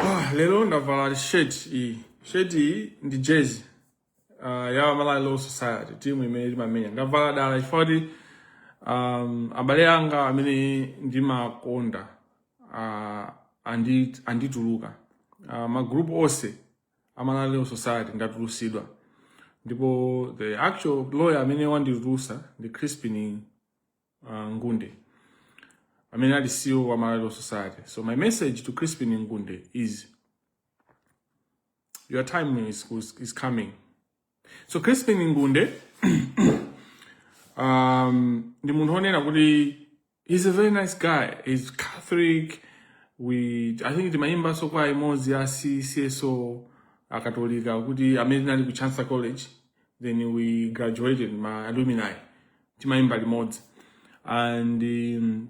Ah, lero ndavala shirt iyi shirt iyi ndi jersey uh, ya Malawi Law Society timu imene timamenya ndavala dala chifukwa kuti um, abale anga amene ndimakonda uh, andi, anditulutsa uh, magrupu onse a Malawi Law Society ndatulusidwa ndipo the actual lawyer amene wanditulusa ndi Crispin uh, Ngunde amene ali CEO wa Malawi Law Society. So my message to Crispin Ngunde is your time is, is coming. so crispin ngunde um, ndi munthu onena kuti he's a very nice guy he's catholic we i think timayimbanso kwaya imodzi ya cso akatolika kuti amene tinali ku chancellor college then we graduated ma alumni timayimba limodzi and um,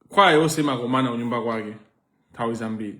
kwaya yonse imakomana kunyumba kwake nthawi zambiri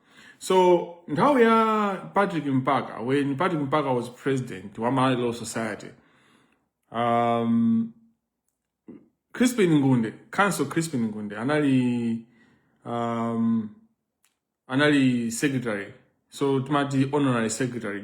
So nthawi ya Patrick Mpaka, when Patrick Mpaka was president wa Malawi Law Society, um, Crispin Ngunde, Counsel Crispin Ngunde anali um, anali secretary so timati honorary secretary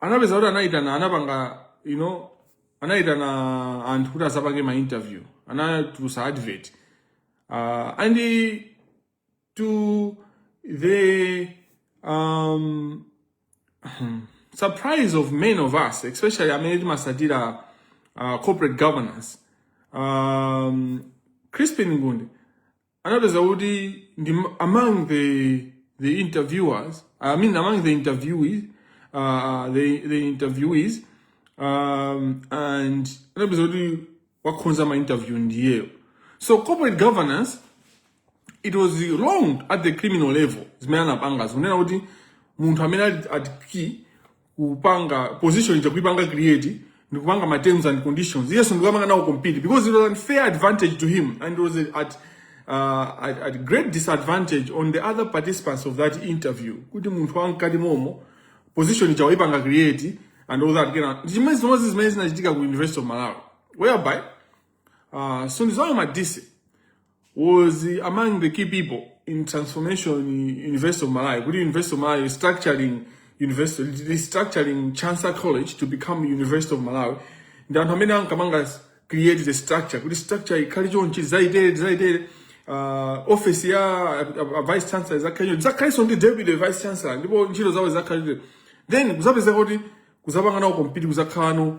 anapeza kuti anayitana anapanga you know anayitana anthu kuti azapange ma interview anatulusa advert uh, and to the um, surprise of many of us especially amene timasatira uh, corporate governance um, crispin ngunde anapeza kuti ali among the the interviewers i mean among the interviewees uh, the, the interviewees um, and anapeza kuti wakhonza ma interview ndiyeyo so corporate governance it was wrong at the criminal level zimene anapanga zonena kuti munthu amene ali at key kupanga position ija kuipanga create ndi kupanga ma terms and conditions iyenso ndikupanga nawo compete because it was an unfair advantage to him and it was at uh, at, at great disadvantage on the other participants of that interview kuti munthu wamkati momo position ija waipanga create and all that ndi chimodzimodzi zimene zinachitika ku university of malawi whereby Uh, Sunduzwayo Madise was among the key people in transformation University of Malawi. Kuti University of Malawi restructuring university restructuring Chancellor College to become University of Malawi. Ndi anthu amene ankapanga create the structure kuti structure ikhale chonchi zaitere zaitere uh, office ya uh, vice chancellor izakhaleko izakhalenso ndi deputy vice chancellor ndipo ntchito zawo zakhalire then kuzapezeka kuti kuzapanga nawo compete kuzakhalano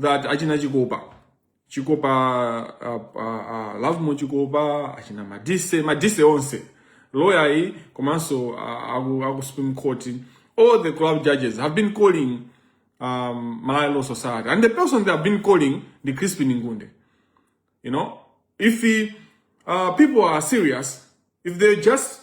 that achina chikopa chikopa uh, uh, uh, lavmo chikopa achina madise madise onse lawyer yi komanso uh, aku, aku supreme court all the club judges have been calling um, malawi law society and the person they have been calling the crispin ngunde you know if he, uh, people are serious if they just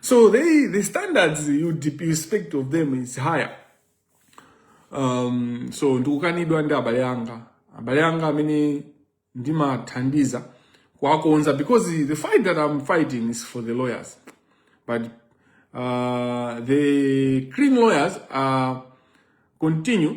So they, the standards you, dep- you expect of them is higher. Um, so ndikukanidwa ndi abale anga abale anga amene ndimathandiza kuwakonza because the fight that I'm fighting is for the lawyers but uh, the clean lawyers uh, continue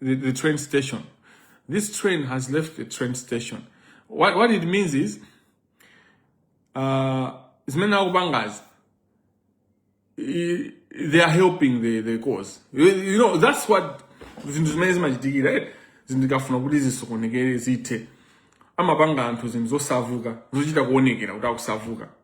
the, the train station. This train has left the train station. What, what it means is, uh, zimene akupangazi i- they are helping the, the cause you, you know that's what zinthu zimene zimachitikira eh? zinthu zikafuna kuti zisokonekere zithe amapanga anthu zinthu zosavuka zochita kuonekera kuti akusavuka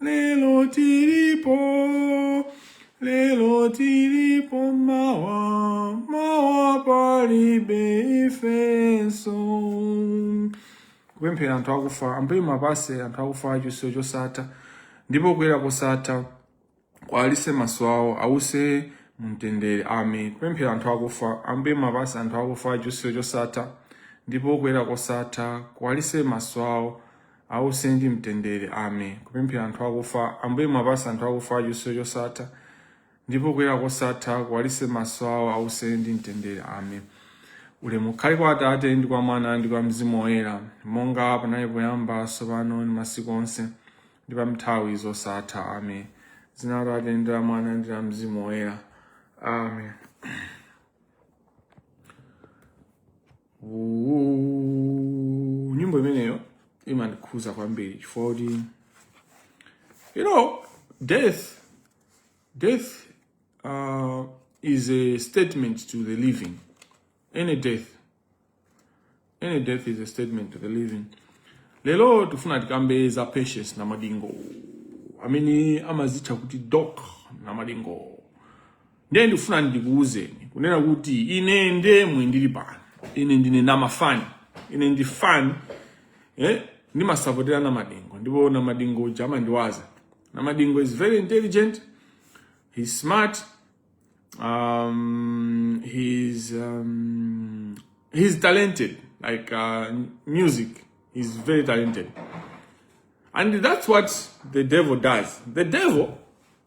lero tilipo lero tilipo mawa mawa palibe ifenso kupemphera anthu akufa ambuye muwapatse anthu akufa chiusiro chosatha ndipo kuyera kosatha kuwalitse maso awo ause mumtendere amen kupemphera anthu akufa ambuye muwapatse anthu akufa chiusiro chosatha ndipo kuyera kosatha kuwalitse maso awo Ause ndi mtendere. Amen. Kupemphera anthu akufa. Ambuye muwapatse anthu akufa chiusiro chosatha ndipo kuyera kosatha kuwalitse maso awo ause ndi mtendere. Amen. Ulemu ukhale kwa Atate ndi kwa Mwana ndi kwa Mzimu Woyera, monga panali poyamba, tsopano ndi masiku onse, ndi pa nthawi zosatha. Amen. Dzina la Atate ndi la Mwana ndi la Mzimu Woyera. Amen. Ooh, nyimbo imeneyo imandikhuza kwambiri chifukwa kuti you know death death uh, is a statement to the living any death any death is a statement to the living lero tifuna tikambe za patience namadingo amene amazitcha kuti doc namadingo Ndiye ndikufuna ndikuuzeni kunena kuti ine ndemwe ndili pano, ine ndine nambafani, ine ndi fan eh, ndimasapotera Namadingo ndipo Namadingo uja amandiwaza. Namadingo is very intelligent, he's smart, um, he's, um, he's talented like uh, music, he's very talented. And that's what the devil does. The devil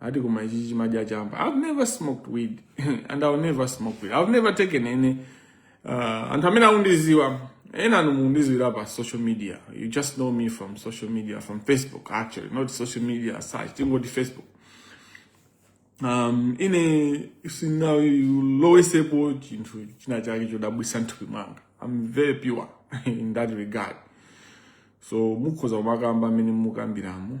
ati koma ichi chimadya chamba i've never smoked weed and i'll never smoke weed i've never taken any uh, anthu amene akundidziwa ena inu mundidziwira pa social media you just know me from social media from facebook actually not social media as such tingoti facebook um, ine sindinalowetsepo chinthu china chake chodabwisa m'thupi mwanga i'm very pure in that regard so mukhoza kumakamba mmene mukambiramo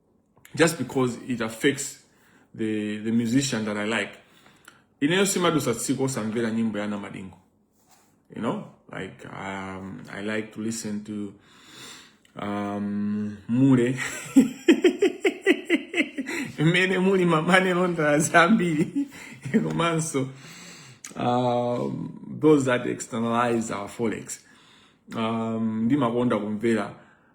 just because it affects the, the musician that I like. Ineyo simadusa tsiku osamvera nyimbo ya Namadingo. You know, like um, I like to listen to um, Mure. Mmene muli ma money launderer ambiri. Komanso, um, those that externalize our forex. Um, ndimakonda kumvera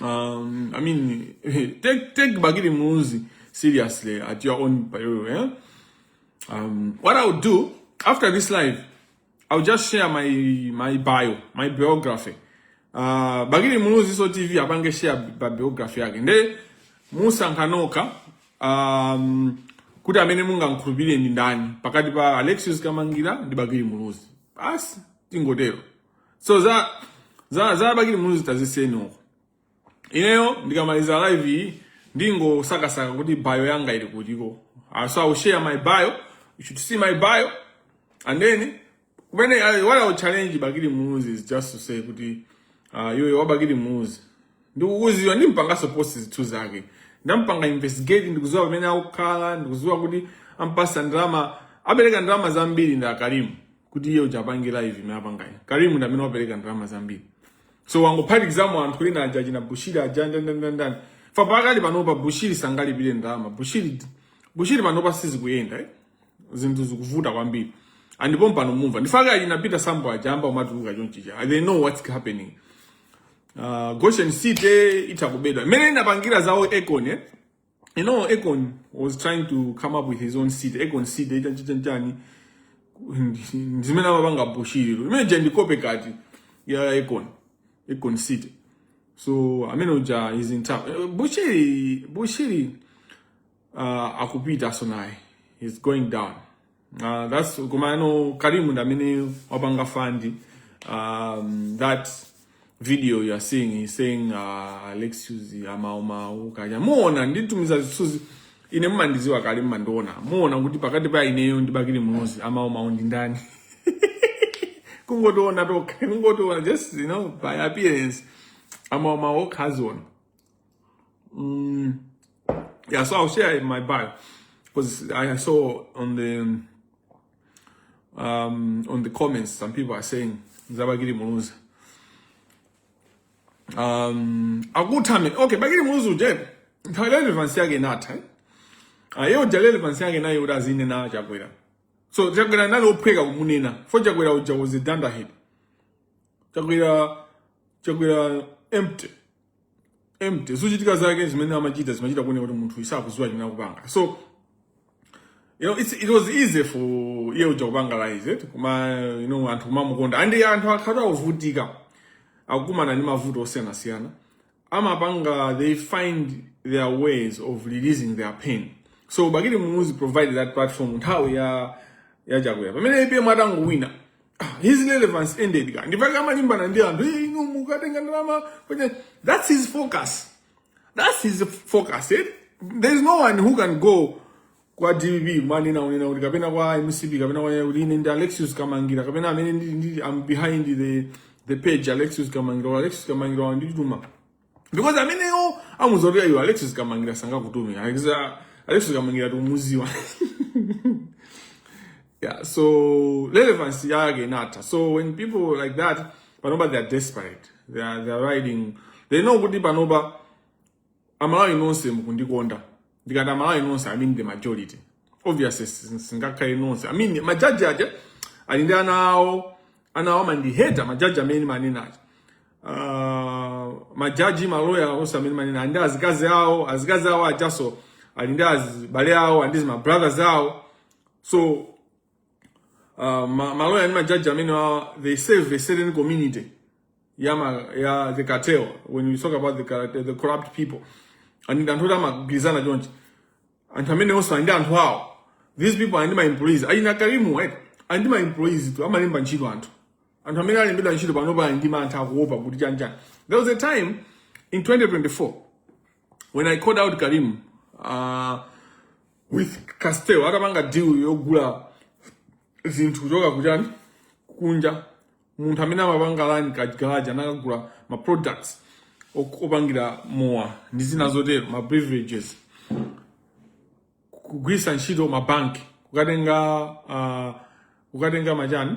Um, I mean, take take Bakili Muluzi seriously at your own peril. Yeah? Um, what I'll do after this live, I'll just share my my bio, my biography. Uh, Bakili Muluzi so TV abange share biography yake. Nde Musa Nkanoka um, kuti amene mungamkhulupirire ndi ndani pakati pa Alexius Kamangira ndi Bakili Muluzi. Basi tingotero. so za za za bakili muluzi taziseni uko ineyo ndikamaliza live iyi ndingosakasaka kuti bio yanga ili kuti Ah, so i will share my bio you should see my bio and then kumene I- what i will challenge bakili muluzi is just to say kuti uh, iwe bakili muluzi ndikukuziwa ndimpanganso post zinthu zake ndampanga investigate ndikuziwa pamene akukhala ndikuziwa kuti ampasa ndalama apereka ndalama zambiri ndi a karimu kuti iye uja apange live imene apangayi karimu ndi amene wapereka ndalama zambiri so wangophatikizamo anthu ena aja achina bushiri aja ndanindanindani fa pakali panopa bushiri sangalipire ndalama bushiri bushiri panopa sizikuyenda eh? zinthu zikuvuta kwambiri and pompano mumva ndipake achina peter sambo aja ayamba kumatuluka chonchicha they know what's happening uh, goshen city itakubedwa imene inapangira zawo econ eh? you know Akon was trying to come up with his own seed Akon seed itachita njani zimene amapanga bushiri imene je ndikope kati ya Akon Akon seed so amene uja is in town Eh, bushiri bushiri uh, akupita so naye he's going down Uh, that's kumano Karim ndi amene wapanga fund um, that video you are seeing he's saying uh, Alexius amaumauka ujaa muona nditumiza zithunzi ine mmandiziwa kale mmandiona muona kuti pakati pa ineyo ndi bakili muluzi amaumauka ndi ndani kungotiona tokha kungotiona just you know by appearance amaumau okhaziona Mm, yeah, so I'll share in my bio because I saw on the um, on the comments some people are saying Za bakili Muluzi. Um, akuthamen okay bakili muluzi uja nthawi ya relevance yake inatha eh? iye ah, uja relevance yake inali yoti azinena chakwera so chakwera anali ophweka kumunena poti chakwera uja was a dunderhead chakwera chakwera empty empty zochitika zake zimene amachita zimachita kuoneka kuti munthuyu sakuziwa chimene akupanga so you know it's, it was easy for iye uja kupanga realize it koma you know anthu kumamukonda and anthu akhala ovutika akukumana ndi mavuto osiyanasiyana amapanga they find their ways of releasing their pain so bakili muluzi provided that platform nthawi ya ya chakwera pamene apm atangowina his relevance ended ndipake amalimbana ndi anthu "Eh, inu mukatenga ndalama kwenye that's his focus that's his focus eh? there is no one who can go kwa dpp mmanena kunena kuti kapena kwa mcp kapena kwa kuti ine ndi alexius kamangira kapena amene ndi, ndi, I'm behind the, the page alexius kamangira alexius kamangira wandituma because amenewo amudziwa kuti ayo alexious kamangila sangakutume alexious kamangila tikumudziwa yeah so relevance yake inatha so when people like that panopa they are desperate they are, they are riding they know kuti panopa amalawi nonse mukundikonda ndikati amalawi nonse i mean the majority obviously simungakhale nonse i mean majaji aja ali ndi ana awo ana awo amandiheta majaji amene ndimanena aja uh, majaji maloya onse amene ndimanena ali ndi azikazi awo azikazi awo ajaso ali ndi azibale awo ali ndi zimabrothers awo so uh, ma, ma lawyer ndi majaji amene wa- they serve a certain community ya, ma, ya the cartel when you talk about the, car- the corrupt people and anthu oti amagwirizana chonchi anthu amenewo onse ali ndi anthu awo these people ali ndi ma employees achina karimu right ali ndi ma employees tu amalemba ntchito anthu anthu amene alembedwa ntchito panopa ali ndi mantha akuopa kuti chanjani there was a time in 2024 when i called out karimu uh, with castel atapanga deal yogula zinthu kuchoka kuchani kunja munthu amene amapanga run kagarage anakagula ma products ok- opangira mowa ndi zina zotero ma beverages kugwiritsa ntchito mabanki kukatenga uh, kukatenga machani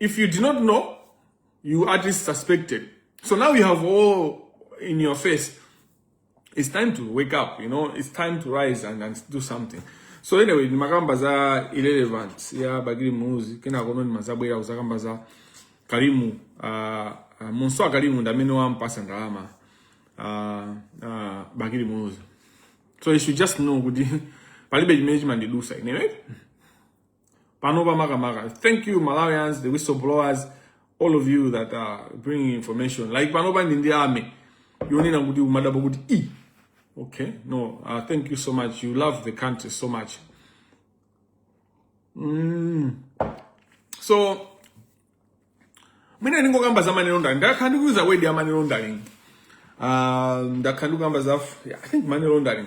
If you did not know, you at least suspected. So now you have all in your face. It's time to wake up, you know, it's time to rise and, and do something. So anyway, ndimakamba za irrelevance ya Bakili Muluzi kena kono ndimazabwera kuzakamba za Kalimu uh, ah, uh, ah, Munso Kalimu ndamene wampasa ndalama uh, uh, Bakili Muluzi. So you should just know kuti palibe chimene chimandidusa inewe. panopa makamaka thank you malawians the whistleblowers all of you that are bringing information like panopa ndili ndi army yonena kuti umadabwa kuti i okay no uh, thank you so much you love the country so much mm. so mwina ndingokamba za money laundering ndakhala ndikuyuza word ya money laundering uh, ndakhala ndikukamba za i think money laundering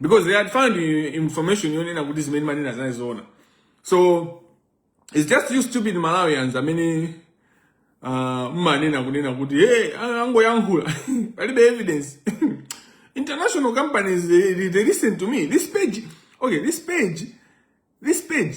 because they had found information yonena kuti zimene ndimanena zinali zoona so it's just you stupid malawians amene uh, mmanena kunena kuti hey, angoyankhula palibe evidence international companies they, they listen to me this page okay this page this page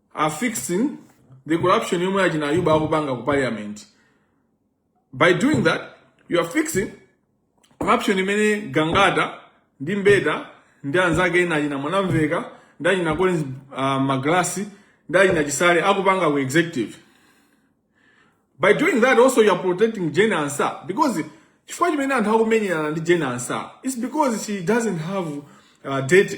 are fixing the corruption yomwe achina ayuba akupanga ku parliament by doing that you are fixing corruption imene gangata ndi mbeta ndi anzake ena achina mwanamveka ndi achina collins uh, magalasi ndi achina chisale akupanga ku executive by doing that also you are protecting jane ansah because chifukwa chimene anthu akumenyerana ndi jane ansah is because she doesn't have uh, dirt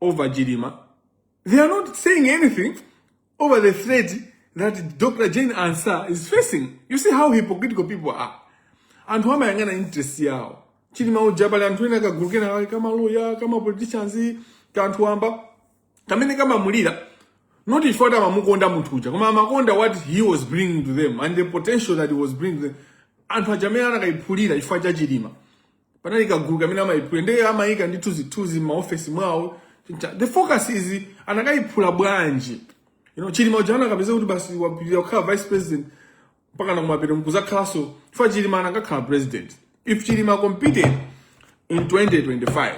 over Chilima. They are not saying anything over the threat that Dr. Jane Ansah is facing. You see how hypocritical people are. Anthu amayang'ana interest yawo. Chilima uja pali anthu ena kagulu kena ka ma lawyer, ka ma politicians, ka anthu wamba. Kamene kamamulira not chifukwa kuti amamukonda munthu uja koma amakonda what he was bringing to them and the potential that he was bringing to them. Anthu aja amene anakayiphulira chifukwa cha Chilima. panali kagulu kamene amayiphula ndi amayika ndi tuzithuzi m'maofesi mwawo the focus is anakayiphula bwanji you know chilima uja anakapezeka kuti basi wapitirira kukhala vice president mpaka nakumapeto mkuzakhalanso chifukwa chilima anakakhala president if chilima competed in 2025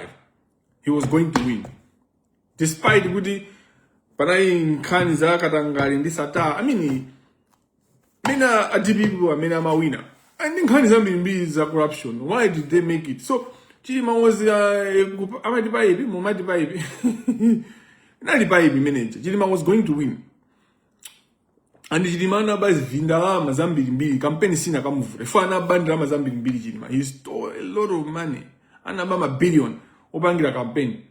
he was going to win despite kuti panali nkhani za katangale ndi sattar i mean mean a dpp amene amawina ali ndi nkhani zambirimbiri za corruption why did they make it so chilima was uh, amati paipi mumati paipi inali paipi imene ija chilima was going to win and chilima anaba zindalama zambirimbiri kampeni sinakamuvuta chifukwa anaba ndalama zambirimbiri chilima he stole a lot of money anaba mabillion opangira kampeni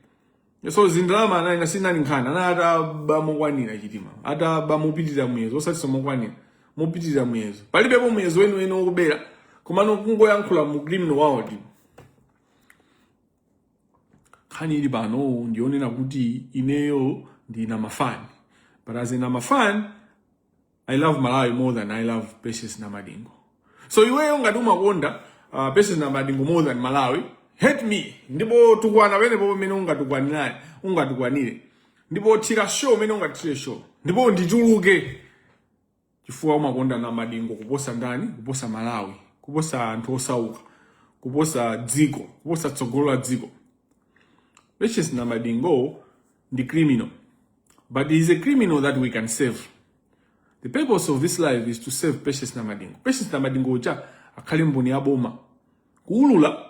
so zindalama anayina sinali nkhani anali ataba mokwanira chilima ataba mopitirira muyezo osatinso mokwanira mopitirira muyezo palibepo muyezo weniweni wokubera komano kungoyankhula mu criminal world nkhani ili pano ndiyonena kuti ineyo ndi namafan but as a namafan I love Malawi more than I love Patience Namadingo. So iweyo ngati umakonda uh, Patience Namadingo more than Malawi, hate me. Ndipo tukwana wene popo mene ungatukwanirani, ungatukwanire. Ndipo tira show mene ungatire show. Ndipo ndichuluke. Chifukwa umakonda Namadingo kuposa ndani? Kuposa Malawi, kuposa anthu osauka, kuposa dziko, kuposa tsogolo la dziko. Patience Namadingo ndi criminal but he is a criminal that we can save the purpose of this live is to save patience namadingo patience namadingo uja akhale mboni ya boma kuulula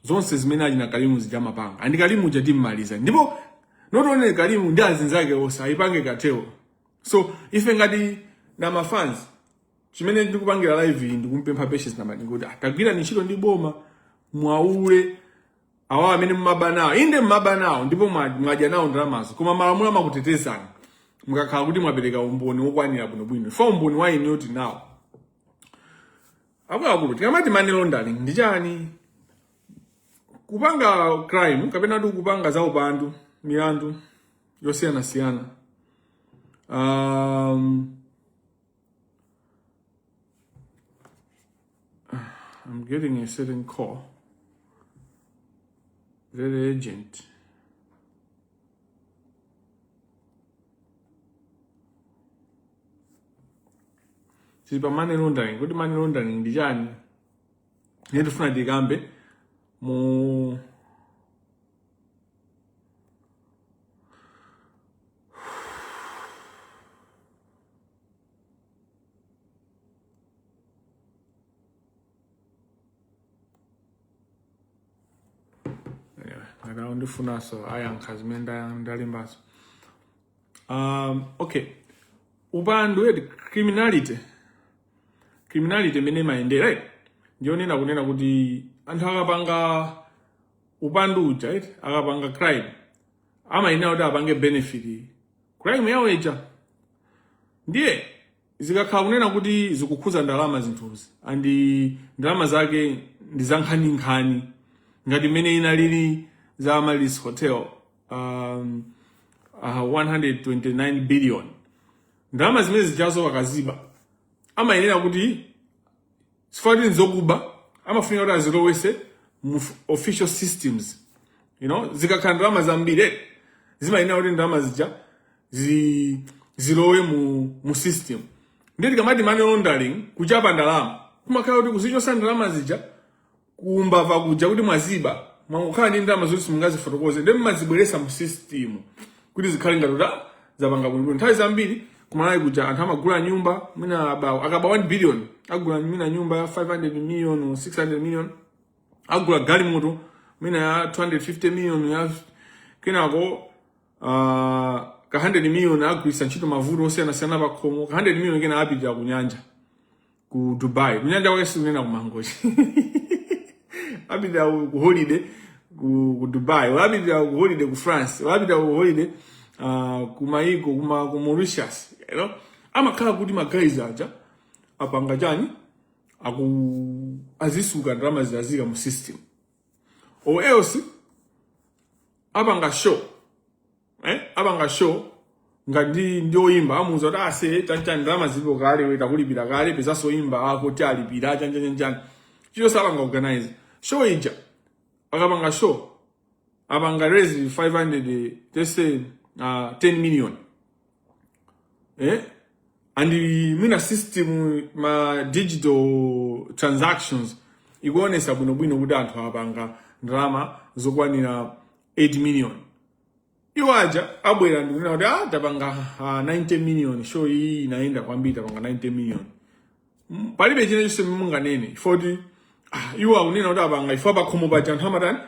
zonse zimene ana karim zija amapanga and karim uja timmaliza ndipo not only karim ndi azinzake onse ayipange cartel so ife ngati namafans chimene ndikupangira live iyi ndikumpempha patience namadingo kuti tagwirani ntchito ndi boma muwaulule awa amene mumaba nawo inde mumaba nawo ndipo mwadya nawo ndalamazo koma malamulo amakutetezani mukakhala kuti mwapereka umboni wokwanira bwinobwino chifukwa umboni wa inuyo tili nawo akuluakulu tikamati money laundering ndi chani kupanga crime kapena kuti kupanga za upandu milandu yosiyanasiyana um, I'm getting a certain call. Very urgent. tiri pa money laundering kuti money laundering ndi chani ndifuna tikambe mu akana ndifunanso ayankhe zimene nda- ndalembazo um, okay upandu eti criminality criminality imene imayendera eti ndiyonena kunena kuti anthu akapanga upandu uja eti akapanga crime amayenera kuti apange benefit crime yawo ija ndiye zikakhala kunena kuti zikukhuza ndalama zinthuzi and ndalama zake ndi zankhaninkhani ngati mmene inalili za Amaryllis Hotel um, uh, 129 billion ndalama zimene zijazo akaziba amayenera kuti chifukwa kuti nzokuba amafunika kuti azilowese mu f- official systems you know zikakhala ndalama zambiri eh, zimayenera kuti ndalama zija zi, zilowe mu, mu system ndiye tikamati money laundering kuchapa ndalama kumakhala kuti kuzichosa ndalama zija kumbava kuja kuti mwaziba mukukhala ndi ndalama zoti simungazifotokoze ndiye mmazibweresa mu system kuti zikhale ngati kuti zapanga bwinobwino nthawi zambiri kumalawi kuja anthu amagula nyumba mwina abawo akaba 1 billion agula mwina nyumba ya 500 million or 600 million agula galimoto mwina ya 250 million ya kenako uh, ka 100 million agwiritsa ntchito mavuto osiyanasiyana pakhomo ka 100 million kena apitira kunyanja ku Dubai kunyanja kwake sikunena ku Mangochi apita ku holiday ku, ku Dubai apita ku holiday ku France apita ku holiday uh, ku maiko kuma ku Mauritius you know amakhala kuti magaiz aja apanga chani aku azisuka ndalama zija zazika mu system or else abanga show eh abanga show nga ndi ndi oyimba amuuza kuti ase chanchani ndalama zilipo kale we takulipira kale pezanso oyimba ako ti alipira chanchanyanchani chicho sapanga organize show ija akapanga show apanga raise 500 let's say uh, 10 million eh? and mwina system ma digital transactions ikuonetsa bwinobwino kuti anthu apanga ndalama zokwanira 8 million iwo aja abwera ndikunena kuti ah, tapanga uh, ah, 90 million show iyi inayenda kwambiri tapanga 90 million mm, palibe china chonse munganene chifukwa kuti ah, iwo akunena kuti apanga chifukwa pakhomo paja anthu amatani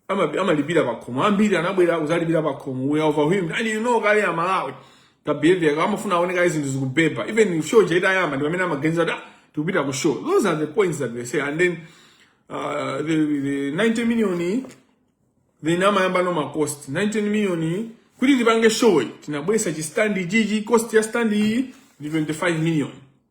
amalipira pakhomo ambiri anabwera kuzalipira pakhomo we are overwhelmed and you know kale aMalawi ka behavior ka amafuna aone kaye zinthu zikubeba even show ija itayamba ndi pamene amaganiza kuti ah, tikupita ku show those are the points that they say and then uh, the, the 90 million then amayamba no ma cost 90 million kuti tipange show tinabwesa chi stand chichi cost ya stand ndi 25 million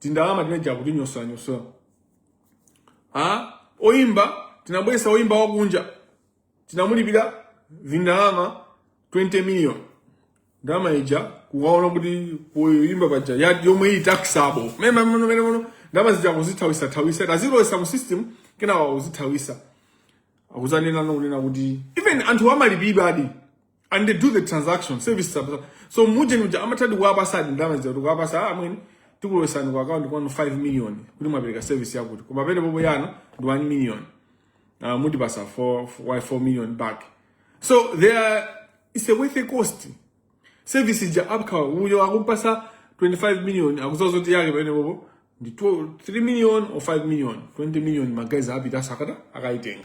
tindalama timene tija akutinyozanyoza ha oyimba tinabwesa oyimba wakunja tinamulipira vindalama 20 million ndalama ija kukaona kuti poyimba paja ya- yomwe iyi taxable menemuno mene mno ndalama zija akuzithawisa thawisa tazilowesa mu system kenawa akuzithawisa akuzanena nonena kuti even anthu amalipiridwadi and they do the transaction service sub- so muje nuja amatadi kuwapasadi ndalama zija kuti kuwapasa amwene tikulowesani ku akaunti kwanu 5 million kuti mwapereka service yakuti koma penipenipo yanu ndi 1 million uh, mutipasa 4 4 4 million back so they are it's a worth a cost service ja apka uyo akumpasa 25 million akuziwa kuti yake penipenipo ndi 12 3 million or 5 million 20 million ma guys apita akatani akaitenga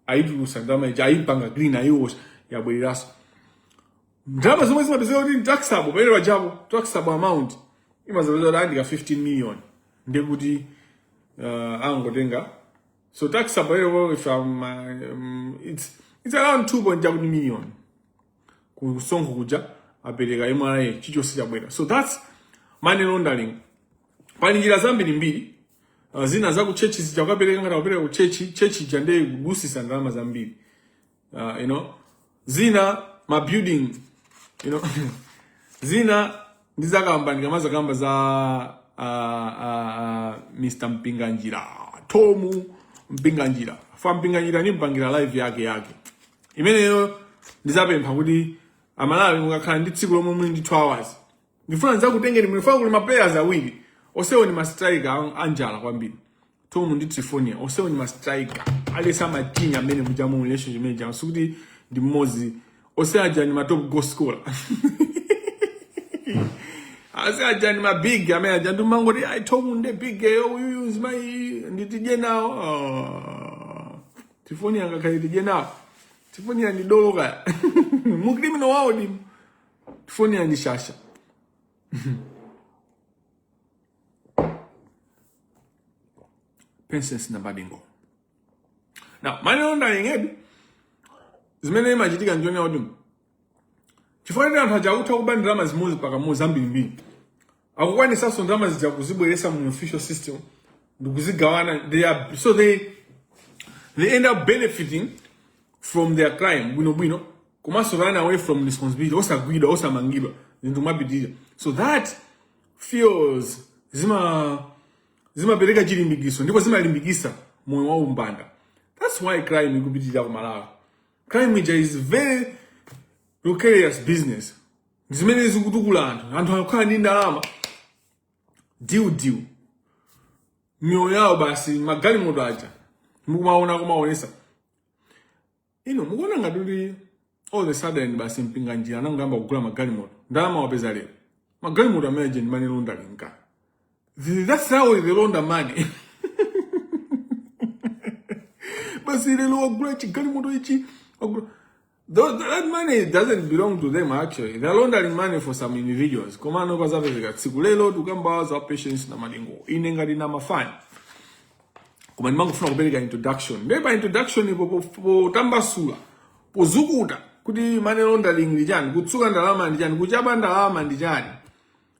ayitulusa ndalama ija ayipanga green ayiwasha yabwereranso ndalama zomwe zimapezeka kuti taxable pamene pajapo taxable amount imazapeza kuti andika 15 million ndekuti uh, angotenga so taxable lero if I'm, um, it's, it's around 2.1 million kusonkho kuja apereka mra chichonse chabwera so that's money laundering pali njira zambiri mbiri uh, zina za kuchechi zija ukapereka ngati akupereka kuchechi chechi ija ndiye kudusisa ndalama zambiri uh, you know zina ma building you know zina ndi zakamba ndikamaza kamba za uh, uh, uh, Mr Mpinganjira Tomu Mpinganjira fa Mpinganjira nimpangira live yake yake imeneyo ndizapempha kuti amalawi mukakhala ndi tsiku lomwe muli ndi 2 hours ndifuna ndidzakutengeni mu ndifuna kuli maplayers awiri osewo ni mastrika anjala kwambiri tomu ndi trifonia osewo ni mastrika alesa machinya amene muja mu relationship imene ija sikuti ndi mmodzi ose aja ni matop goal scorer onse aja ni mabig amene aja ndimangoti ayi tomu nde big yo uyuyu nzima tidye nawo oh. trifonia ngakhale tidye nawo trifonia ndi dolo kaya mu criminal world Trifonia ndi shasha princess na badingo now money laundering ndi zimene imachitika njoni yaudimo chifukwa tena anthu aja akutha kuba ndalama zimodzi paka mu zambirimbiri akukwanisanso ndalama zija kuzibweresa mu official system ndikuzigawana they are so they they end up benefiting from their crime bwino bwino komanso run away from responsibility osagwidwa osamangidwa zinthu kumapitirira so that feels zima zimapereka chilimbikiso ndipo zimalimbikisa moyo wa umbanda that's why crime ikupitirira ku malawi crime ija is very precarious business zimene zikutukula anthu anthu akukhala ndi ndalama dilu dilu miyoyo yawo basi magalimoto aja mukumaona kumaonesa you know mukuona ngati kuti all the sudden basi mpinganjira anangoyamba kugula magalimoto ndalama wapeza lero magalimoto amene aja ndi money laundering that's how they launder money basi lero wagula chigalimoto ichi wagula Those, that money doesn't belong to them actually. They're laundering money for some individuals. Komano pazapezeka tsiku lero tukamba za Patience Namadingo. Ine ngati ndi mafani. Koma ndimangofuna kupereka introduction. Ndiye pa introduction po potambasula, pozukuta kuti money laundering ndi chani, kutsuka ndalama ndi chani, kuchapa ndalama ndi chani.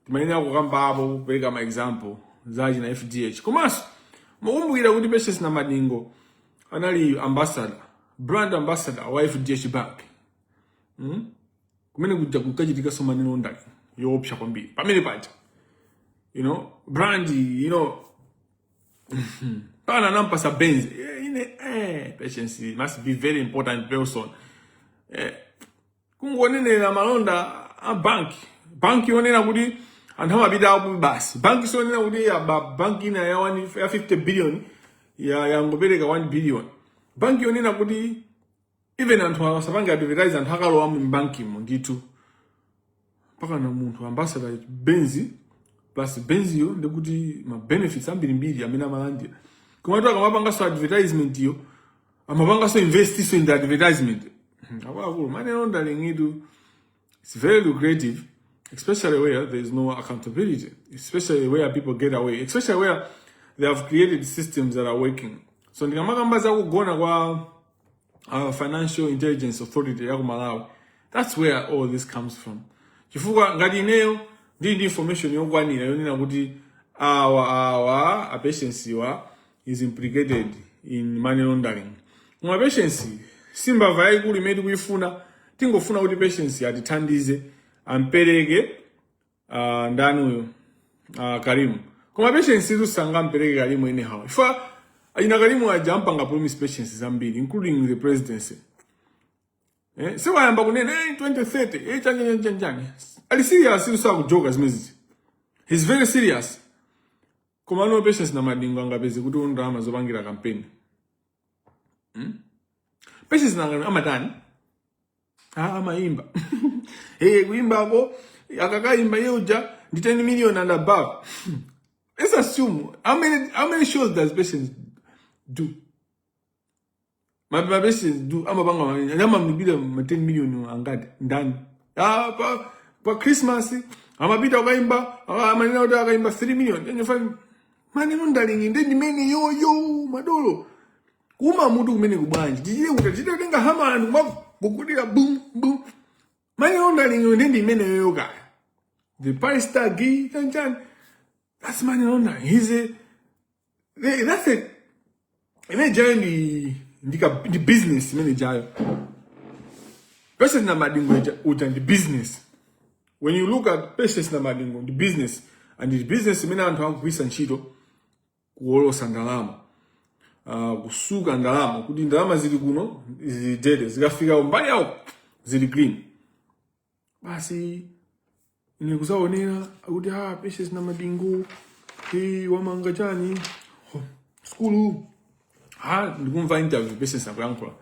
timayenera kukambapo kupereka ma example za chani za fdh komanso mukumbukira kuti patience namadingo anali ambassador brand ambassador wa fdh bank hmm? kumene kuja kukachitika so money laundering yoopsa kwambiri pamene paja you know brand you know paja anampasa benz eh, ine eh, patience must be very important person eh, kungonenera malonda a banki banki yonena kuti anthu amapita uku basi banki yonena kuti aba banki ina ya, one, ya 50 billion ya yangopereka 1 billion banki yonena kuti even anthu asapange advertise anthu akalowa mu bankimo ndithu mpakana munthu ambassador benzi plus benziyo ndikuti ma benefits ambirimbiri amene amalandira komatu akamapanganso advertisement yo amapanganso investinso in the advertisement Hmm, akuluakulu money laundering itu it's very lucrative especially where there is no accountability especially where people get away especially where they have created systems that are working so ndikamakamba za kugona kwa our financial intelligence authority ya ku malawi that's where all this comes from chifukwa ngati ineyo ndili ndi information yokwanira yonena kuti awa awa a patience wa is implicated in money laundering koma patience si mbava yayikulu imene tikuyifuna tingofuna kuti patience atithandize ampereke uh, ndani uyu uh, ah, karimu koma patience izo sangampereke karimu anyhow ifa ina karimu aja ampanga promise patience zambiri including the presidency eh, sewayamba kunena hey, 2030 eh, chanja chanja chanja ali serious izo sakujoka zimezizi he's very serious komano patience namadingo angapeze kuti ndalama zopangira kampeni hmm? patience nanga amatani ah, amaimba hey, kuimbako akakaimba iye uja ndi 10 million and above let's assume how many, how many shows does patience do ma ma patience do amapanga ma- amamulipira ma 10 million angati ndani ah pa pa christmas amapita akaimba ah, amanena kuti akaimba 3 million ndiye fani maneno ndalingi ndi ndimene yo yo madolo kumawutu kumene kubwanji tichite kuti tichite kutenga hama anthu kumagugudira bum bum maneno ndalingi ndi ndimene yo kaya the price tag chanchani that's maneno ndalingi he's a They- That's it. Imene ijayo ndi ndi ka ndi business imene ijayo. Patience Namadingo ija- uja ndi business. When you look at Patience Namadingo ndi business and ndi business imene anthu akugwiritsa ntchito kuwolotsa ndalama. Uh, kutsuka ndalama kuti ndalama zili kuno zili dirty zikafika mbali yawo zili clean. basi ine kuzaonera akuti ah, patience namadingo hey, wamanga chani oh, sukulu ha ndikumva interview patience akuyankhula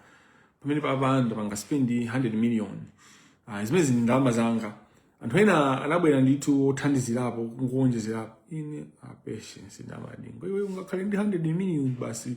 pamene paja ndapanga spend 100 million ah, zimenezi ndi ndalama zanga anthu ena anabwera ndithu othandizirapo kuwonjezerapo ine ah, patience namadingo iwe ungakhale ndi 100 million basi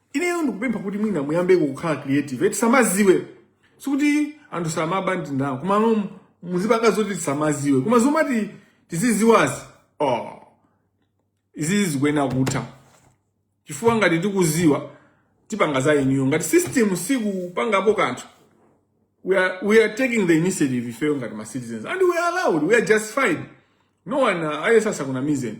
ineyo ndikupempha kuti mwina muyambe kukhala creative tisamaziwe sikuti anthu samaba ndalama komano muzipanga zoti tisamaziwe koma zomati tiziziwazi oh izizi zikuyenera kutha chifukwa ngati tikuziwa tipanga za eniyo ngati system sikupangapo kanthu we are, we are taking the initiative ifeyo ngati ma citizens and we are allowed we are justified no one uh, asakunamizeni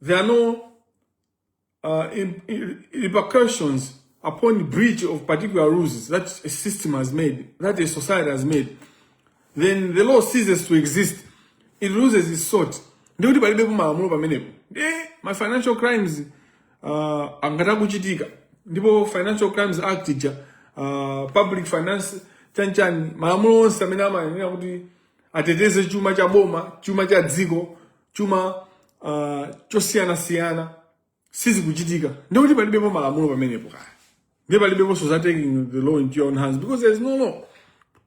There are no uh, re, re repercussions upon breach of particular rules that a system has made, that a society has made. Then the law ceases to exist. It loses its salt. Ndikuti palibepo malamulo pamenepo. Eh, ma financial crimes uh, angathe kuchitika. Ndipo Financial Crimes Act ija uh, public finance chanchani malamulo onse amene amayenera kuti ateteze chuma cha boma, chuma cha dziko chuma uh, chosiyanasiyana sizikuchitika ndikuti palibepo malamulo pamenepo kaya ndiye palibeponso za taking the law into your own hands because there is no law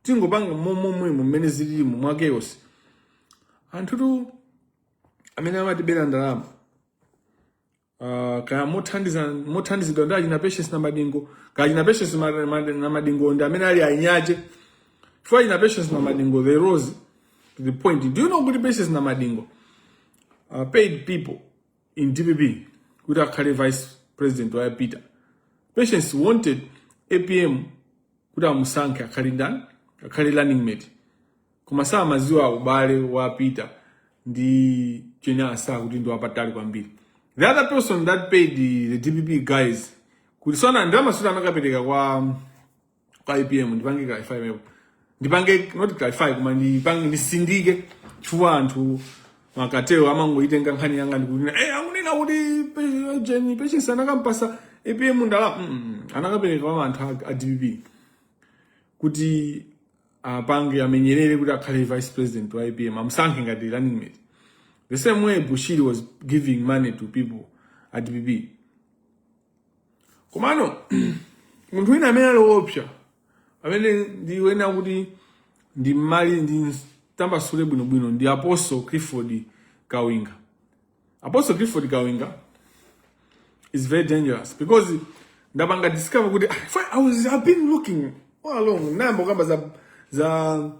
tingopanga momwemo mmene zilimo mwa chaos anthutu amene amatibera ndalama Uh, kaya mothandiza mothandizidwa ndi a Jane Ansah Patience Namadingo kaya achina Patience Ma- Ma- Namadingo ndi amene ali anyache chifukwa achina Patience Namadingo they rose to the point do you know kuti Patience Namadingo uh, paid people in DPP kuti akhale vice president wa Peter Patience wanted APM kuti amusankhe akhale ndani akhale running mate koma samaziwa ubale wa peter ndi Jane Ansah kuti ndi wapatali kwambiri the other person that paid the dpp guys kuti zoona ndalama sikuti anakapereka kwa kwa apm ndipange clarify mmenepo ndipange not clarify koma ndipange ndisindike chifukwa anthu mukatero mumangoitenga nkhani yanga n'kunena eh akunena kuti pe- jeni patience anakampatsa apm ndalama mm, mm, anakapereka kwa anthu a- a dpp kuti apange amenyerere kuti akhale vice president wa apm amsankhe ngati running mate the same way bushiri was giving money to people at dpp komano munthu wina amene ali woopsa amene ndiyenera kuti ndimmalize ndimtambasule bwinobwino ndi apostle clifford kawinga Apostle Clifford Kawinga is very dangerous because ndapanga discover kuti ah, I was I've been looking all along ndayamba kukamba za za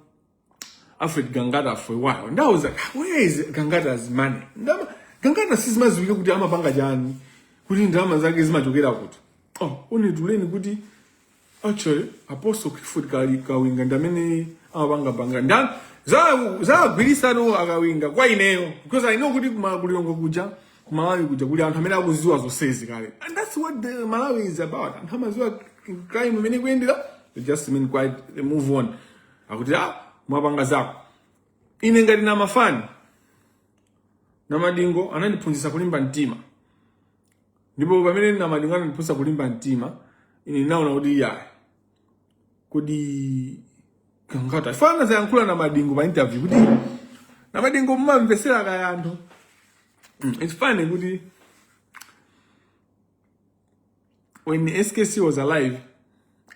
Alfred Gangata for a while. And I was like, where is Gangata's money? Ndama, Gangata sizimaziwika kuti amapanga chani kuti ndama zake zimachokera kuti oh, only to learn kuti Actually, Apostle Clifford Kali Kawinga ndi amene amapanga panga nda za za gwirisa no akawinga kwa ineyo because I know kuti kuma ku Lilongwe kuja kumalawi kuja kuli anthu amene akuziwa zonsezi kale and that's what the Malawi is about anthu amaziwa crime mmene ikuyendera they just remain quiet they move on akuti ah mwapanga zako ine ngati nda- mfana Namadingo anandiphunzitsa kulimba mtima ndipo pamene Namadingo anandiphunzitsa kulimba mtima ine ndinaona kuti iyayi kodi Gangata mfana zayankhula Namadingo pa interview kuti Namadingo mumamvetsera kaya anthu Mm, it's funny kuti when skc was alive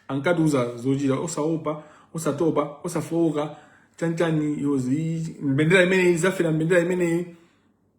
ankatiuza zochita osaopa osatopa osafowoka chanchani those mbendera imeneyi tidzafera mbendera imeneyi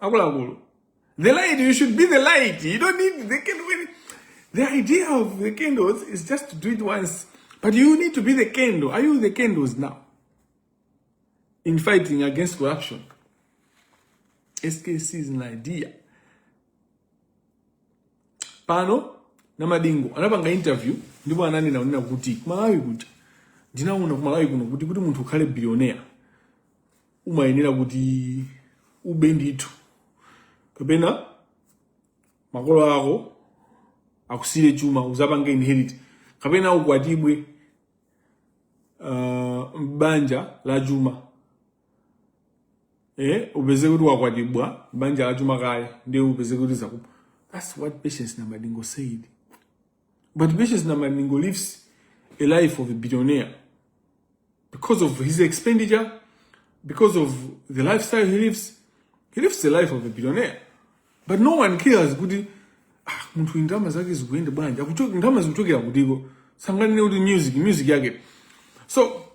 akuluakulu the light you should be the light you don't need the candle the idea of the candles is just to do it once but you need to be the candle are you the candles now in fighting against corruption skc is an idea pano namadingo anapanga interview ndipo ananena kunena kuti kumalawi kuja ndinaona kumalawi kuno kuti kuti munthu ukhale billionaire umayenera kuti ube ndithu kapena makolo ako akusiyire chuma uzapange inherit kapena ukwatibwe uh, m'banja la chuma eh upezeke kuti wakwatibwa m'banja la chuma kaya ndiye upezeke kuti zakupa that's what patience namadingo said But Patience Namalingo lives a life of a billionaire because of his expenditure, because of the lifestyle he lives. He lives the life of a billionaire. But no one cares kuti ah, munthu uyu ndalama zake zikuyenda bwanji Akucho- ndalama zikuchokera kutiko sanganene kuti music music yake so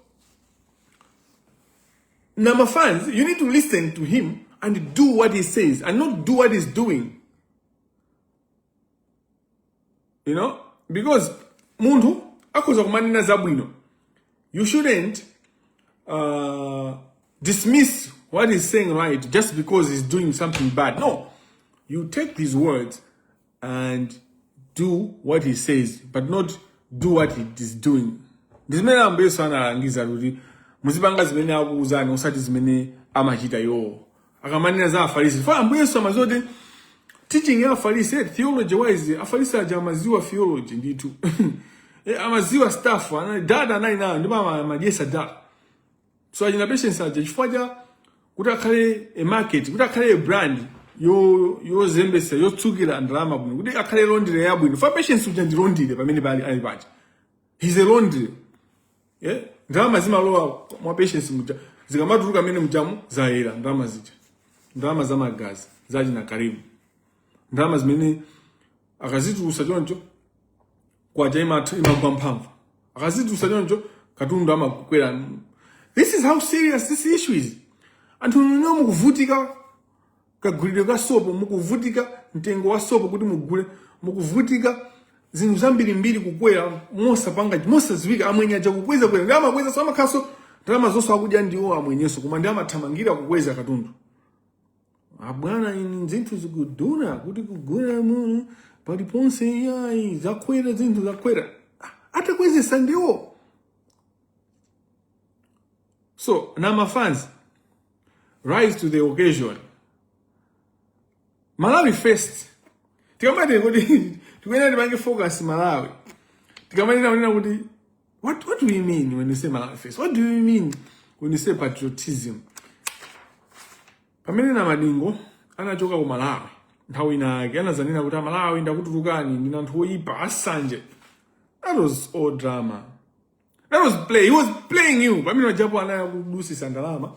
Nama fans, you need to listen to him and do what he says and not do what he's doing. you know because munthu akhoza kumanena zabwino you shouldn't uh, dismiss what he's saying right just because he's doing something bad no you take his words and do what he says but not do what he is doing ndi zimene ambuye yesu analangiza kuti muzipanga zimene akuuzani osati zimene amachita iwowo akamanena za afarisi chifukwa ambuye yesu amaziwa kuti teaching ya afarisi eh, theology wise afarisi aja amaziwa theology ndithu eh, amaziwa stuff anali data anali nayo ndipo ama- amadyesa data so achina patience aja chifukwa cha kuti akhale a market kuti akhale a brand yo- yozembesa yotsukira ndalama bwino kuti akhale laundry yabwino fa patience uja ndi laundry pamene pali ali paja he's a laundry yeah? ndalama zimalowa mwa patience muja zikamatulukamo mmene mujamu zayera ndalama zija ndalama za magazi za achina karimu ndalama zimene akazitulusa choncho kwacha imatha imagwa mphamvu akazitulusa choncho katundu amakwera this is how serious this issue is anthu nonse mukuvutika kagulidwe ka sopo mukuvutika mtengo wa sopo kuti mugule mukuvutika zinthu zambirimbiri kukwera mosapanga mosaziwika amwenye aja kukwezakweza ndi amakwezaso amakhalaso ndalama zonse akudya ndiwo amwenyeso koma ndi amathamangira kukweza katundu abwana ini zinthu zikudula kuti kugula muno paliponse iyayi zakwera zinthu zakwera Ah, atakwezesa ndiwo so namafans rise to the occasion malawi first tikamati kuti tikuyenera tipange focus malawi tikamanena kunena kuti what, what do you mean when you say malawi first what do you mean when you say patriotism pamene namadingo anachoka ku malawi nthawi inayake anazanena kuti amalawi ndakutulukani ndinu anthu oyipa asanje that was all drama That was play. He was playing you. Pamene pajapo anali akudusisa ndalama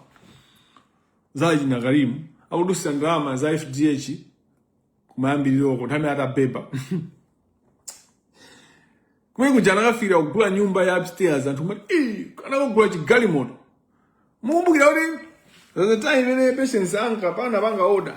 za achina Karimu, akudusisa ndalama za FDH kumayambiriro uko nthawi atabeba. Kumene kuja anakafikira kugula nyumba ya upstairs anthu kumati, "Eh, anakagula chigalimoto." Mukumbukira kuti the time imene Patience ankapanga panga order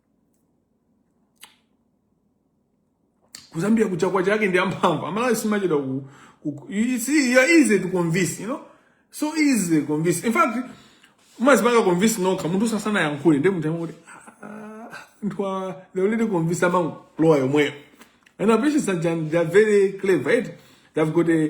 kuzambia kucha kwa chake ndi amphamvu amalawi simuchedwa ku, ku, ku you see you're easy to convince you know so easy to convince in fact umazipanga convince nokha munthu asanayankhule ndi munthu amoti ntwa they already convince amangolowa yomweyo and our patients are, they are very clever right they've got a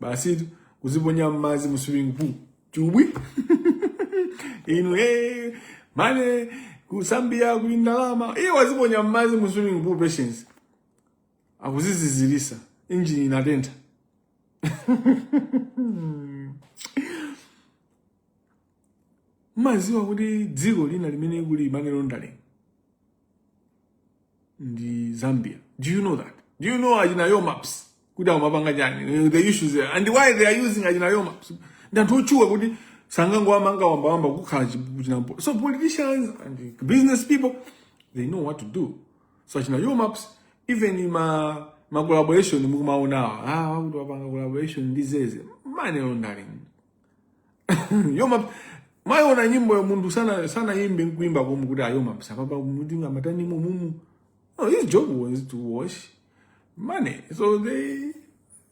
basi kuziponya mmadzi mu swimming pool chubwi inu hey, man ku zambia kuli ndalama iye waziponya mmadzi mu swimming pool patience akuzizizirisa injini inatentha mumaziwa kuti dziko lina limene kuli money laundering ndi zambia do you know that do you know achina yo maps kuti amapanga chani the issues there and why they are using achina yo maps ndi anthu otchuka kuti sangangowamanga wambawamba kukhala chinapo so politicians and business people they know what to do so achina yo maps even ma ma collaboration mukumaonawa ah wakuti wapanga collaboration ndi zeze money laundering yo maps mwayiona nyimbo yo munthu sanayimbe nkuimba komwe kuti a yo maps apapa mutingamatani mumumu no his job was to wash money so they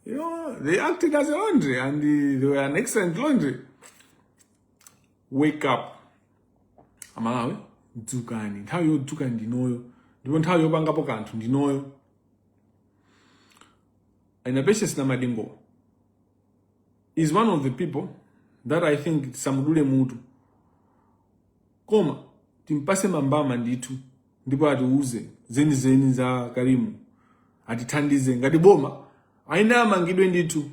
you know they acted as a laundry and they were an excellent laundry wake up amalawi dzukani nthawi yodzuka ndinoyo ndipo nthawi yopangapo kanthu ndinoyo and patience namadingo is one of the people that I think tisamudule mutu koma timpase mambama ndithu ndipo atiuze zenizeni za Karimu atithandize ngati boma aina amangidwe ndithu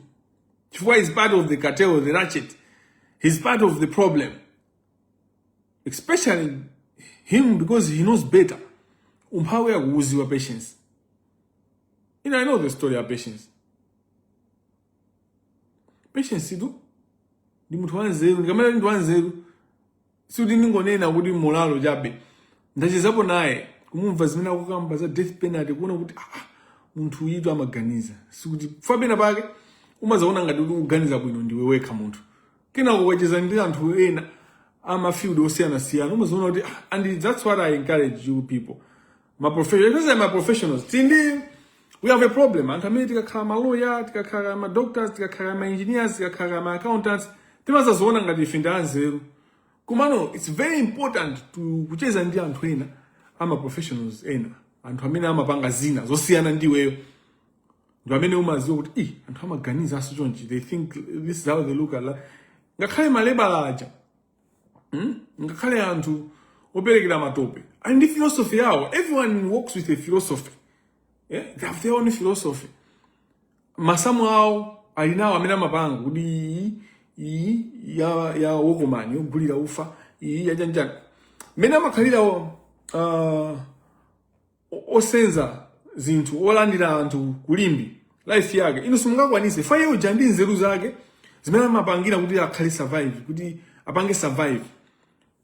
chifukwa is part of the cartel the ratchet he's part of the problem especially him because he knows better umphawi akuuziwa patience you know, I know the story of patience patience tu ndi munthu wanzeru ndikamati ndi wanzeru sikuti ndingonena kuti molalo chabe ndachezapo naye kumumva zimene akukamba za death penalty kuona kuti ah, ah, munthu uyitu amaganiza chifukwa pena pake umazaona ngati kuti ukuganiza bwino ndiwe wekha munthu kenako ukacheza ndi anthu ena amafield osiyanasiyana umazaona kuti ah, and that's what i encourage you people ma professionals ma professionals I think we have a problem anthu amene tikakhala ma lawyer tikakhala ma doctors tikakhala ma engineers tikakhala ma accountants timazadziona ngati ife ndi anzeru komano it's very important to kucheza ndi anthu ena ama professionals ena anthu amene amapanga zina zosiyana ndi iweyo ndi amene umaziwa kuti i anthu amaganizaso chonchi they think this is how they look at life ngakhale malebala aja hmm? ngakhale anthu operekera matope ali ndi philosophy yawo everyone works with a philosophy yeah? they have their own philosophy masamu awo ali nawo amene amapanga kuti iyi iyi ya ya okoma yogulira ufa iyi ya chanichani mmene amakhalira uh, o- osenza zinthu olandira anthu ku Limbe life yake inu simungakwanise koma iye uja ndi nzeru zake zimene amapangira kuti akhale survive kuti apange survive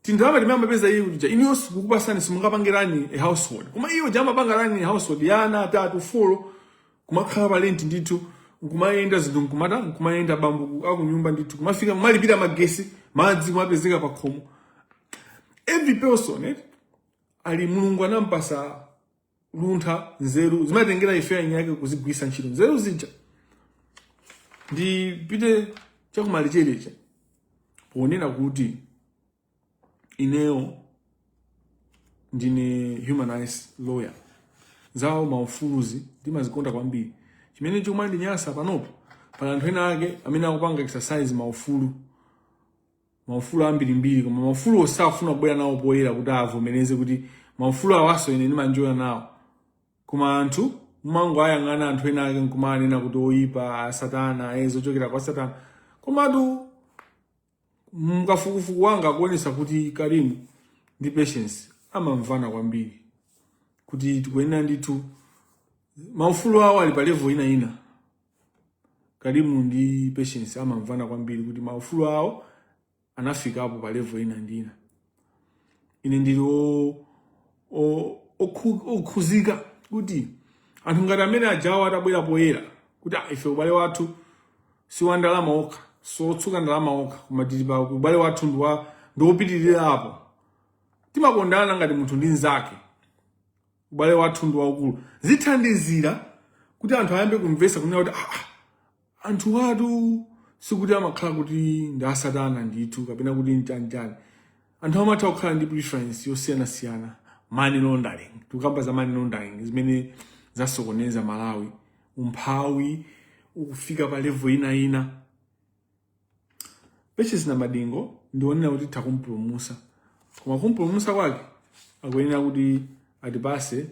tindalama timene amapeza iye uja inuyo titakupasani simungapangire run a household koma iye uja amapanga run a household ya ana atatu folo kumakhala pa rent ndithu nkumayenda zinthu nkumatha nkumayenda bambo akunyumba ndithu kumafika kumalipira magesi madzi kumapezeka pa khomo every person eh? ali mulungu anampasa luntha nzeru zimatengera ife eni ake kuzigwirisa ntchito nzeru zija ndipite chakumalecheleche ponena kuti ineyo ndine human rights lawyer za maufuluzi ndimazikonda kwambiri chimene chomandinyasa panopo pali anthu ena ake amene akupanga exercise maufulu maufulu ambirimbiri koma maufulu osafuna kubwera nawo poyera kuti avomereze kuti maufulu awaso ine ndima-enjoya nawo koma anthu mumangoayang'ana anthu ena ake nkumanena kuti oyipa asatana e zochokera kwa satana komatu kafukufuku wanga akuonesa kuti Karimu ndi Patience amamvana kwambiri kuti tikuyenera ndithu maufulu awo ali pa level ina ina Karimu ndi Patience amamvana kwambiri kuti maufulu awo anafikapo pa level ina ndi ina. Ine ndili o- o- okhu- okhuzika kuti anthu ngati amene ajawo atabwera poyera kuti "Ah, ife ubale wathu si wa ndalama okha siwotsuka ndalama okha koma tili pa ubale wathu ndi wa- ndi wopitirira apo timakondana ngati munthu ndi mnzake ubale wathu ndi waukulu zithandizira kuti anthu ayambe kumvesa kunena kuti ah, ah, anthu awatu sikuti amakhala kuti ndi asatana ndithu kapena kuti nchanichani anthu amatha kukhala ndi preference yosiyanasiyana money laundering tikukamba za money laundering zimene zasokoneza Malawi umphawi ukufika pa level ina Patience Namadingo ndikuona kuti titha kumpulumusa koma kumpulumusa kwake akuyenera kuti atipase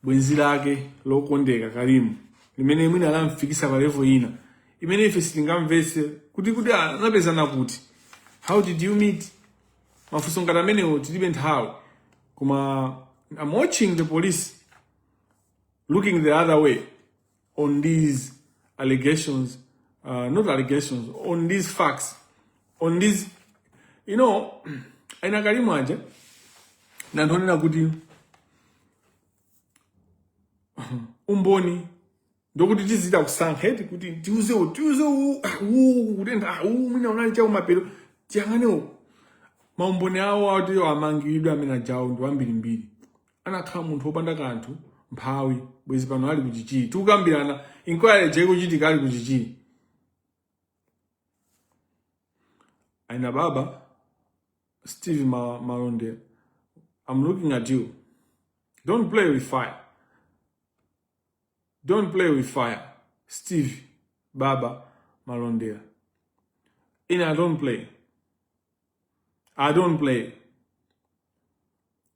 bwenzi lake lokondeka Karimu limene mwina lamfikisa pa level ina imene ife sitingamvetse kuti kuti anapezana kuti how did you meet mafunso ngati amenewo tilibe nthawi koma I'm watching the police looking the other way on these allegations, uh, not allegations, on these facts, on these, you know, aina Karimu aja, na nchonena kuti umboni ndokuti tizichita kusankha eti kuti tiuze tiuze uwu kutenda uwu mwina unali chawo mapero tiyang'ane uku maumboni awo atiyo amangidwe amene ajawo ndi wambirimbiri anakhala munthu wopanda kanthu mphawi bwezi pano ali ku Chichiri tikukambirana inquiry ikuchitika ali ku Chichiri aina baba steve Ma- Malondera i'm looking at you don't play with fire don't play with fire steve baba malondera ine i don't play i don't play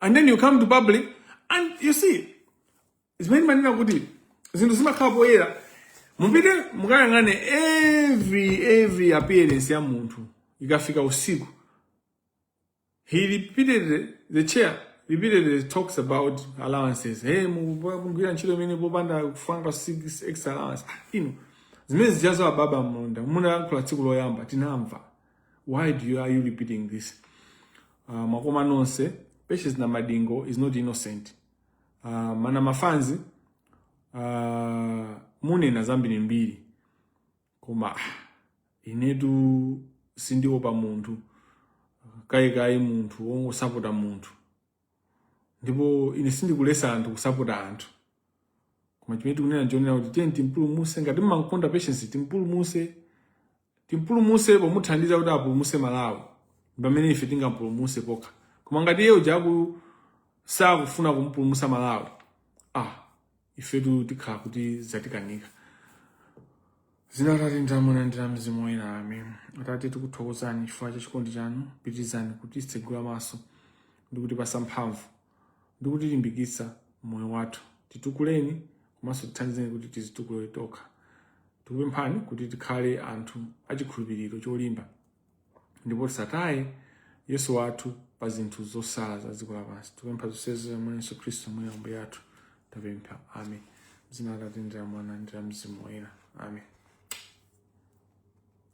and then you come to public and you see zimene timanena kuti zinthu zimakhala poyera mupite mukayang'ane every every appearance ya munthu ikafika usiku he repeated the chair repeatedly talks about allowances hey mugwira ntchito imene popanda kupanga six extra allowance ah, ino zimene zijazo a Baba Malondera munayankhula tsiku loyamba tinamva why do you, are you repeating this uh, makoma nonse patience Namadingo is not innocent uh, mana mafanzi uh, munena zambirimbiri koma ah, inetu sindiopa munthu kayikayi munthu wongosapota munthu ndipo ine sindikulesa anthu kusapota anthu koma chimene tikunena nchonena kuti tiye timpulumuse ngati mmankonda patience timpulumuse Timpulumuse pomuthandiza kuti apulumuse Malawi ndipamene ife tingampulumuse pokha koma ngati iye uja aku sakufuna kumupulumusa Malawi ah ifetu tikhala kuti zatikanika dzina la atate ndi la mwana ndi la mzimu woyera amen atate tikuthokozani chifukwa cha chikondi chanu pitirizani kutitsegula maso ndi kutipasa mphamvu ndi kutilimbikitsa m'moyo wathu. Titukuleni komanso tithandizeni kuti tizitukule tokha. Tikupemphani kuti tikhale anthu achikhulupiriro cholimba ndipo tisataye Yesu wathu pa zinthu zosala za dziko lapansi. Tikupempha zonsezi mwa Yesu Khristu Ambuye Ambuye athu. Tapempha. Amen. Dzina la Atate ndi la Mwana ndi la Mzimu Woyera. Amen.